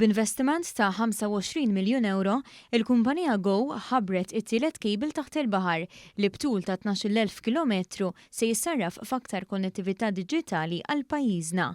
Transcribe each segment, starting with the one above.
B'investiment ta' 25 miljun ewro, il-kumpanija Go ħabbret it-tielet cable taħt il-baħar, li b'tul ta' tnax-il elf kilometru se jissarraf f'aktar konnettività diġitali għal pajjiżna.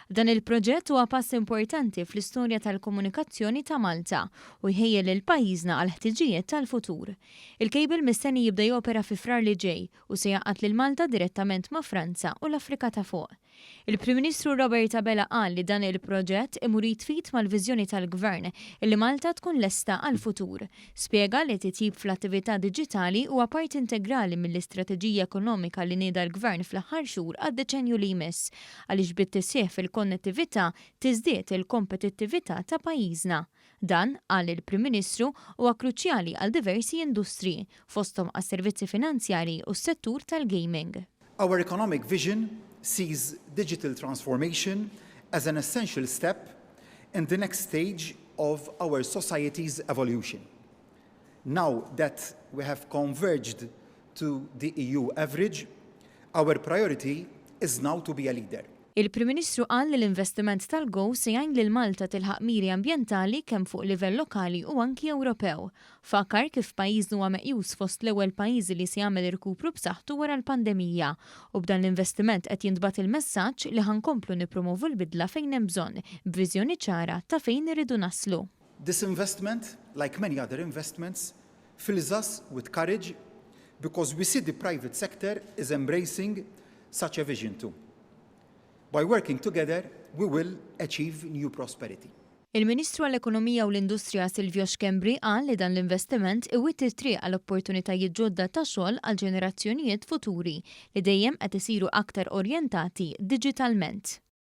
Dan il-proġett huwa pass importanti fl-istorja tal-komunikazzjoni ta' Malta u jħejji lil pajjiżna għall-ħtiġijiet tal-futur. Il-cable mistenni jibda jopera fi Frar li ġej u se jgħaqqad lil Malta direttament ma' Franza u l-Afrika ta' Fuq. Il-Prim Ministru Robert Abela qal li dan il-proġett imur id f'id mal-viżjoni tal-Gvern illi Malta tkun lesta għall-futur. Spjega li t-titjib fl-attività diġitali huwa parti integrali mill-istrateġija ekonomika li nieda l-Gvern fl-aħħar xhur għad-deċennju li jmiss għaliex bit-tisħiħ fil-konnettività tiżdied il-kompetittività ta' pajjiżna. Dan, qal il-Prim Ministru, huwa kruċjali għal diversi industriji, fosthom għas-servizzi finanzjarji u s-settur tal-gaming. Our economic vision sees digital transformation as an essential step in the next stage of our society's evolution. Now that we have converged to the EU average, our priority is now to be a leader. Il-Prim Ministru qal li l-investiment tal-GO se jgħin lil Malta tilħaq miri ambjentali kemm fuq livell lokali u anki Ewropew. Fakkar kif pajjiżna huwa meqjus fost l-ewwel pajjiżi li se jagħmel irkupru b'saħħtu wara l-pandemija u b'dan l-investiment qed jintbagħat il-messaġġ li ħa nkomplu nippromovu l-bidla fejn hemm bżonn b'viżjoni ċara ta' fejn irridu naslu. This investment, like many other investments, fills us with courage because we see the private sector is embracing such a vision too. By working together, we will achieve new prosperity. Il-Ministru għall-Ekonomija u l-Industrija Silvio Schembri qal li dan l-investiment iwitti t-triq għal opportunitajiet ġodda ta' xogħol għal ġenerazzjonijiet futuri li dejjem qed isiru aktar orjentati diġitalment.